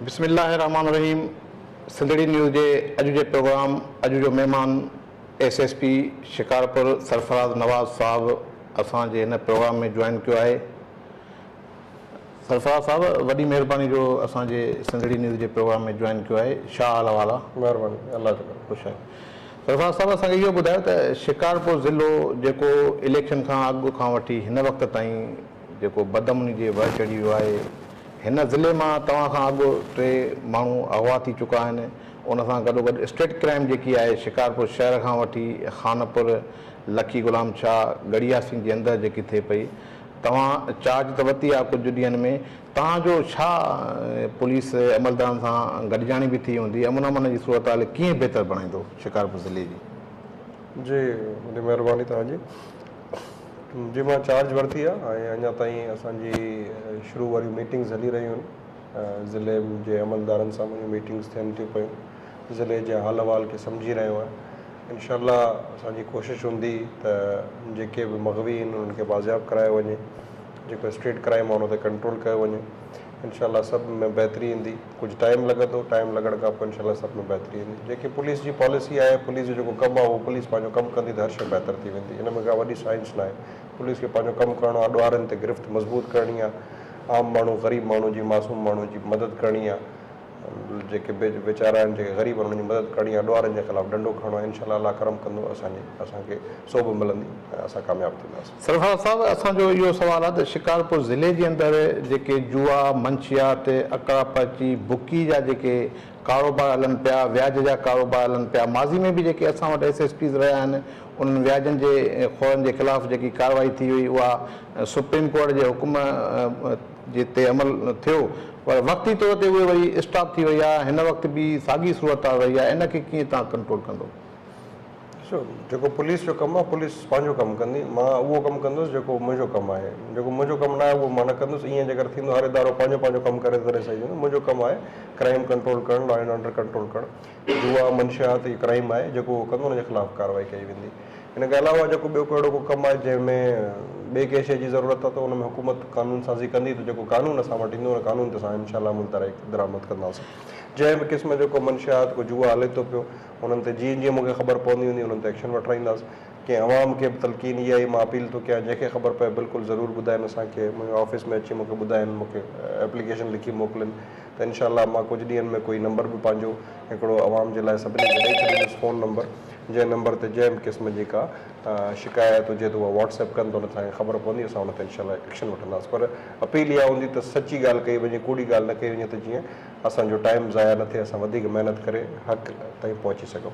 بسم الله الرحمٰن الرحيم سنڌڙي نيوز جي اڄ جي پروگرام اڄ جو مهمان S S P Shikarpur Sarfraz Nawaz صاحب اسان جي هن پروگرام ۾ جوائن ڪيو آهي سرفراز صاحب وڏي مهرباني جو اسان جي سنڌڙي نيوز جي پروگرام ۾ جوائن ڪيو آهي شاهه حال احوال آ. مهرباني الله جو ڪرم. خوش آهيون سرفراز صاحب اسان کي اهو ٻڌايو ته شڪارپور ضلعو جيڪو اليڪشن کان اڳ کان وٺي هن وقت تائين جيڪو بدامني جي وهه چڙهي ويو آهي هن ضلعي مان توهان کان اڳ ٽي ماڻهو اغوا ٿي چڪا آهن ان سان گڏوگڏ اسٽريٽ ڪرائيم جيڪي آهي شڪارپور شهر کان وٺي خانپور لکي غلام شاهه ڳڙهي ياسين جي اندر جيڪي ٿئي پئي توهان چارج ته ورتي آهي ڪجهه ڏينهن ۾ توهان جو ڇا پوليس عملدارن سان گڏجاڻي به ٿي هوندي امن امان جي صورتحال ڪيئن بهتر بڻائيندو شڪارپور ضلعي جي. جي وڏي مهرباني توهان جي جي مان چارج ورتي آهي ۽ اڃا تائين اسان جي شروع واريون ميٽنگز هلي رهيون آهن ضلعي جي عملدارن سان منهنجون ميٽنگس ٿين ٿيون پيون ضلعي جي حال احوال کي سمجهي رهيو آهيان انشاء الله اسان جي ڪوشش هوندي ته جيڪي به مغوي آهن انهن کي بازياب ڪرايو وڃي جيڪو اسٽريٽ ڪرائيم آهي ان تي ڪنٽرول ڪيو وڃي انشاء الله سڀ ۾ بهتري ايندي ڪجهه ٽائيم لڳندو ٽائيم لڳڻ کان پوء انشاء الله سڀ ۾ بهتري ايندي جيڪي پوليس جي پاليسي آهي پوليس جو جيڪو ڪم آهي اهو پوليس پنهنجو ڪم ڪندي ته هر شيء بهتر ٿي ويندي ان ۾ ڪا وڏي سائنس ناهي پوليس کي پنهنجو ڪم ڪرڻو آهي ڏوهارين تي گرفت مضبوط ڪرڻي آهي عام ماڻهو غريب ماڻهو جي معصوم ماڻهو جي مدد ڪرڻي آ جيڪي بي ويچارا آهن جيڪي غريب آهن انهن جي مدد ڪرڻي آ ڏوهارن جي خلاف ڏنڊو کڻڻو آ انشاء الله الله ڪرم ڪندو اسان جي اسان کي سوڀ ملندي ۽ اسان ڪامياب ٿينداسين. سرفراز صاحب اسان جو اهو سوال آ ته شڪارپور ضلعي جي اندر جيڪي جوا منشيات اڪڙا پرچي بڪي جا جيڪي ڪاروبار هلن پيا، وياج جا ڪاروبار هلن پيا، ماضي ۾ به جيڪي اسان وٽ ايس ايس پيز رهيا آهن انهن وياجن جي خورن جي خلاف جيڪي ڪارروائي ٿي هئي اها سپريم ڪورٽ جي حڪم جي تي عمل ٿيو پر وقتي طور تي اهي وري اسٽاپ ٿي وئي آهي هن وقت به ساڳي صورتحال رهي آهي ان کي ڪيئن تهان ڪنٽرول ڪندو. ڏسو جيڪو پوليس جو ڪم آهي پوليس پنهنجو ڪم ڪندي مان اهو ڪم ڪندس جيڪو منهنجو ڪم آهي جيڪو منهنجو ڪم ناهي اهو مان نه ڪندس ائين جيڪر ٿيندو هر ادارو پنهنجو پنهنجو ڪم ڪري تڏهن صحيح ٿيندو منهنجو ڪم آهي ڪرائيم ڪنٽرول ڪرڻ لا اينڊ آرڊر ڪنٽرول ڪرڻ جوا منشيات هي ڪرائيم آهي جيڪو اهو ڪندو ان جي خلاف ڪارروائي ڪئي ويندي ان کان علاوه جيڪو ٻيو ڪو اهڙو ڪو ڪم آهي جنهن ۾ ٻئي ڪنهن شيء جي ضرورت آهي ته ان ۾ حڪومت قانون سازي ڪندي ته جيڪو قانون اسان وٽ ايندو ان قانون تي اسان انشاء الله عمل درآمد ڪنداسين جنهن به قسم جو ڪو منشيات ڪو جوا هلي ٿو پيو انهن تي جيئن جيئن مون کي خبر پوندي هوندي انهن تي ايڪشن وٺرائينداس ڪنهن عوام کي به تلقين اها آهي مان اپيل ٿو ڪيان جنهن کي خبر پئي بلڪل ضرور ٻڌائين اسان کي منهنجي آفيس ۾ اچي مون کي ٻڌائين مون کي ايپليڪيشن لکي موڪلين ته انشاء الله مان ڪجهه ڏينهن ۾ ڪوئي نمبر به پنهنجو هڪڙو عوام جي لاء سڀني کي ڏئي ڇڏيندس فون نمبر جنهن نمبر تي جنهن به قسم جي ڪا شڪايت هجي ته اها واٽس ايپ ڪن ته انهن کي خبر پوندي اسان ان تي انشاء الله ايڪشن وٺنداس پر اپيل اها هوندي ته سچي ڳالهه ڪئي وڃي ڪوڙي ڳالهه نه ڪئي وڃي ته جيئن اسان جو ٽائيم ضايع نه ٿئي اسان وڌيڪ محنت ڪري حق تائين پهچي سگهون.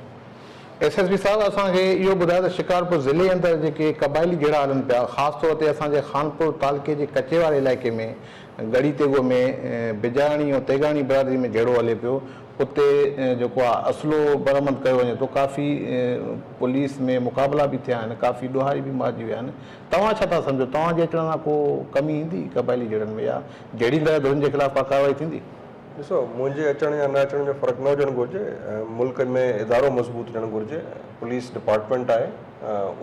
ايس ايس پي صاحب اسان کي اهو ٻڌايو ته شڪارپور ضلعي اندر جيڪي قبائلي جهيڙا هلن پيا خاص طور تي اسان جي خانپور تعلقي جي ڪچي واري علائقي ۾ ڳڙهي تيغو ۾ بجاياڻي ۽ تيغاڻي برادري ۾ جهيڙو هلي پيو اتي جيڪو آهي اسلحو برآمد ڪيو وڃي ٿو ڪافي پوليس ۾ مقابلا به ٿيا آهن ڪافي ڏوهاري به مارجي ويا آهن توهان ڇا ٿا سمجهو توهان جي اچڻ سان ڪو ڪمي ايندي قبائلي جهيڙن ۾ يا جهڙي طرح ڌرين جي خلاف ڪا ڪارروائي ٿيندي؟ ڏسو، منهنجي اچڻ يا نه اچڻ جو فرق نه هجڻ گهرجي، ملڪ ۾ ادارو مضبوط هجڻ گهرجي، پوليس ڊپارٽمينٽ آهي،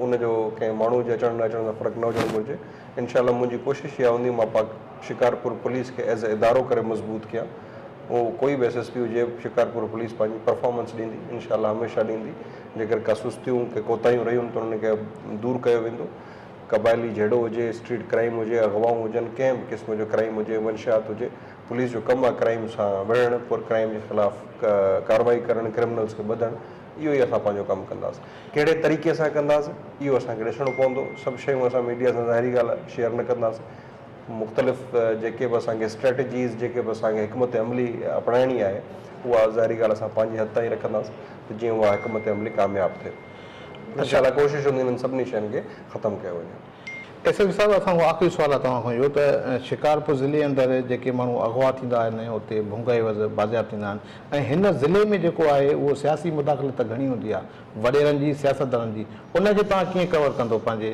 ان جو ڪنهن ماڻهو جي اچڻ نه اچڻ سان فرق نه هجڻ گهرجي، انشاء الله منهنجي ڪوشش اها هوندي مان پاڪ شڪارپور پوليس کي ايز اي ادارو ڪري مضبوط ڪيان، اهو ڪوئي به ايس ايس پي هجي شڪارپور پوليس پنهنجي پرفارمنس ڏيندي، انشاء الله هميشه ڏيندي، جيڪر ڪا سستيون، ڪي ڪوتاهيون رهيون ته انهن کي دور ڪيو ويندو، قبائلي جهيڙو هجي، اسٽريٽ ڪرائيم هجي، اغوائون هجن، ڪنهن به قسم جو ڪرائيم هجي، منشيات هجي، پوليس جو ڪم آهي ڪرائيم سان وڙهڻ، پر ڪرائيم جي خلاف ڪارروائي ڪرڻ، ڪرمنلز کي ٻڌڻ، اهو ئي اسان پنهنجو ڪم ڪنداس. ڪهڙي طريقي سان ڪنداس، اهو اسان کي ڏسڻو پوندو. سڀ شيون اسان ميڊيا سان ظاهري ڳالهه آهي شيئر نه ڪنداس. مختلف جيڪي به اسان کي اسٽريٽجيز، جيڪي به اسان کي حڪمت عملي اپنائڻي آهي، اها ظاهري ڳالهه اسان پنهنجي حد تائين رکنداس ته جيئن اها حڪمت عملي ڪامياب ٿئي. انشاء الله ڪوشش هوندي انهن سڀني شين کي ختم ڪيو وڃي. ايس ايس پي صاحب اسان کان آخري سوال آهي توهان کان اهو ته شڪارپور ضلعي اندر جيڪي ماڻهو اغوا ٿيندا آهن ۽ اتي ڀونگا عيوض بازياب ٿيندا آهن ۽ هن ضلعي ۾ جيڪو آهي اهو سياسي مداخلت ته گهڻي هوندي آهي وڏيرن جي سياستدانن جي ان کي توهان ڪيئن ڪور ڪندو پنهنجي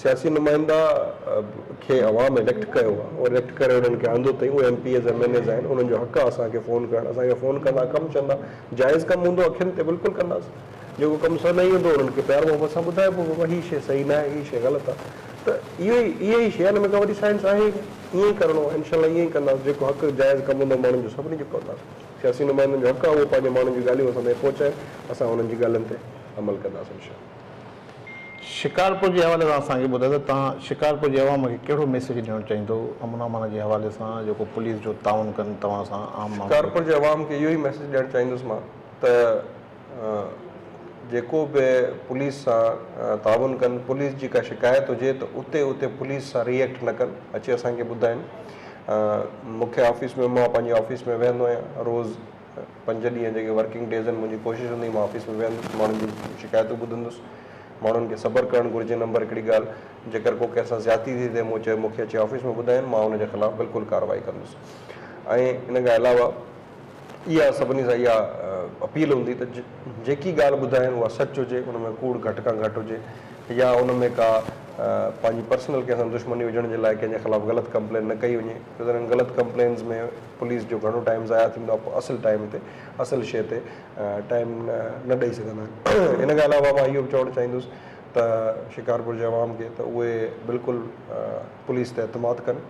سياسي نمائندا کي عوام اليڪٽ ڪيو آ او اليڪٽ ڪري انهن کي آندو تئي اهي M P As M N As آهن انهن جو حق آ اسان کي فون ڪرڻ اسان کي فون ڪندا ڪم چوندا جائز ڪم هوندو اکين تي بلڪل ڪنداسين جيڪو ڪم سونهي هوندو انهن کي پيار محبت سان ٻڌائبو بابا هي شي صحيح ناهي هي شي غلط آ ته اهو ئي اها ئي شي آ ان ۾ ڪا وڏي سائنس آهي ئي نه ائين ئي ڪرڻو آ انشاء الله ائين ئي ڪنداسين جيڪو حق جائز ڪم هوندو ماڻهن جو سڀني جو ڪنداسين سياسي نمائندن جو حق آ اهو پنهنجي ماڻهن جون ڳالهيون اسان تائين پهچائين اسان انهن جي ڳالهين تي عمل ڪنداسين انشاء الله. شڪارپور جي حوالي سان اسان کي ٻڌايو ته توهان شڪارپور جي عوام کي ڪهڙو ميسيج ڏيڻ چاهيندو امن امان جي حوالي سان جيڪو پوليس جو تعاون ڪن توهان سان عام ماڻهن جو شڪارپور جي عوام کي اهو ئي ميسيج ڏيڻ چاهيندس مان ته جيڪو به پوليس سان تعاون ڪن پوليس جي ڪا شڪايت هجي ته اتي اتي پوليس سان ري ايڪٽ نه ڪن اچي اسان کي ٻڌائين مون کي آفيس ۾ مان پنهنجي آفيس ۾ ويهندو آهيان روز پنج ڏينهن جيڪي ورڪنگ ڊيز آهن منهنجي ڪوشش هوندي مان آفيس ۾ ويهندس ماڻهن جون شڪايتون ٻڌندس ماڻهن کي صبر ڪرڻ گهرجي نمبر هڪڙي ڳالهه جيڪر ڪو ڪنهن سان زيادتي ٿي ٿئي مون چيو مون کي اچي آفيس ۾ ٻڌائين مان ان جي خلاف بلڪل ڪارروائي ڪندس ۽ ان کان علاوه اها سڀني سان اها اپيل هوندي ته جيڪي ڳالهه ٻڌائين اها سچ هجي ان ۾ ڪوڙ گهٽ کان گهٽ هجي يا ان ۾ ڪا پنهنجي پرسنل ڪنهن سان دشمني هجڻ جي لاء ڪنهن جي خلاف غلط ڪمپلين نه ڪئي وڃي ڇو ته انهن غلط ڪمپلينز ۾ پوليس جو گهڻو ٽائيم ضايع ٿيندو آهي پوء اصل ٽائيم تي اصل شيء تي ٽائيم نه ڏئي سگهندا آهن ان کان علاوه مان اهو به چوڻ چاهيندس ته شڪارپور جي عوام کي ته اهي بلڪل پوليس تي اعتماد ڪن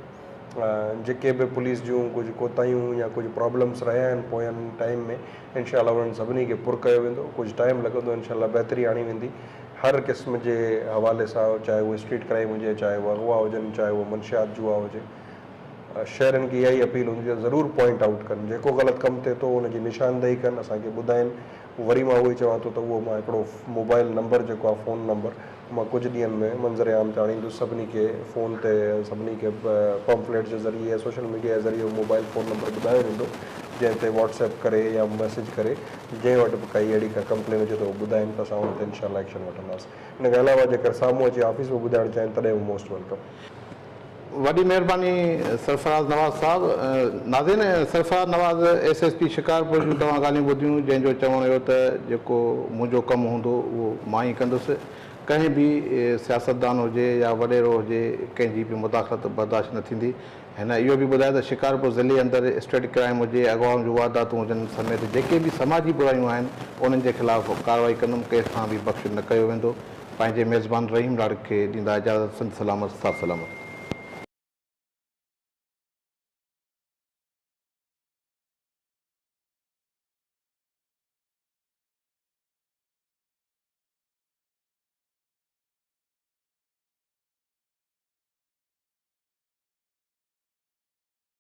جيڪي به پوليس جون ڪجهه ڪوتاهيون يا ڪجهه پرابلمس رهيا آهن پوين ٽائيم ۾ انشاء الله انهن سڀني کي پر ڪيو ويندو ڪجهه ٽائيم لڳندو انشاء الله بهتري آڻي ويندي هر قسم جي حوالي سان چاهي اهو اسٽريٽ ڪرائيم هجي چاهي اهو اغوا هجن چاهي اهو منشيات جوا هجي شهرين کي اها ئي اپيل هوندي ته ضرور پوائنٽ آئوٽ ڪن، جيڪو غلط ڪم ٿئي ٿو ان جي نشاندهي ڪن اسان کي ٻڌائين، وري مان اهو ئي چوان ٿو ته اهو مان هڪڙو موبائل نمبر جيڪو آهي فون نمبر مان ڪجهه ڏينهن ۾ منظر عام تي آڻيندس سڀني کي فون تي سڀني کي پمفليٽ جي ذريعي يا سوشل ميڊيا جي ذريعي اهو موبائل فون نمبر ٻڌايو ويندو جنهن تي واٽس ايپ ڪري يا ميسج ڪري جنهن وٽ به ڪائي اهڙي ڪا ڪمپلين هجي ته اهو ٻڌائين ته اسان ان تي انشاء الله ايڪشن وٺنداسين ان کان علاوه جيڪر سامهون اچي آفيس ۾ ٻڌائڻ چاهين تڏهن به موسٽ ويلڪم. وڏي مهرباني سرفراز نواز صاحب. ناظرين Sarfraz Nawaz S S P Shikarpur جون توهان ڳالهيون ٻڌيون جنهن جو چوڻ هيو ته جيڪو منهنجو ڪم هوندو اهو مان ئي ڪندس ڪنهن به سياستدان هجي يا وڏيرو هجي ڪنهن جي به مداخلت برداشت نه ٿيندي هن اهو به ٻڌايو ته شڪارپور ضلعي اندر اسٽريٽ ڪرائيم هجي اغوائن جون وارداتون هجن سميت جيڪي به سماجي برايون آهن انهن جي خلاف ڪارروائي ڪندم ڪنهن سان به بخش نه ڪيو ويندو پنهنجي ميزبان رحيم لاڙڪ کي ڏيندا اجازت سنڌ سلامت سٿ سلامت.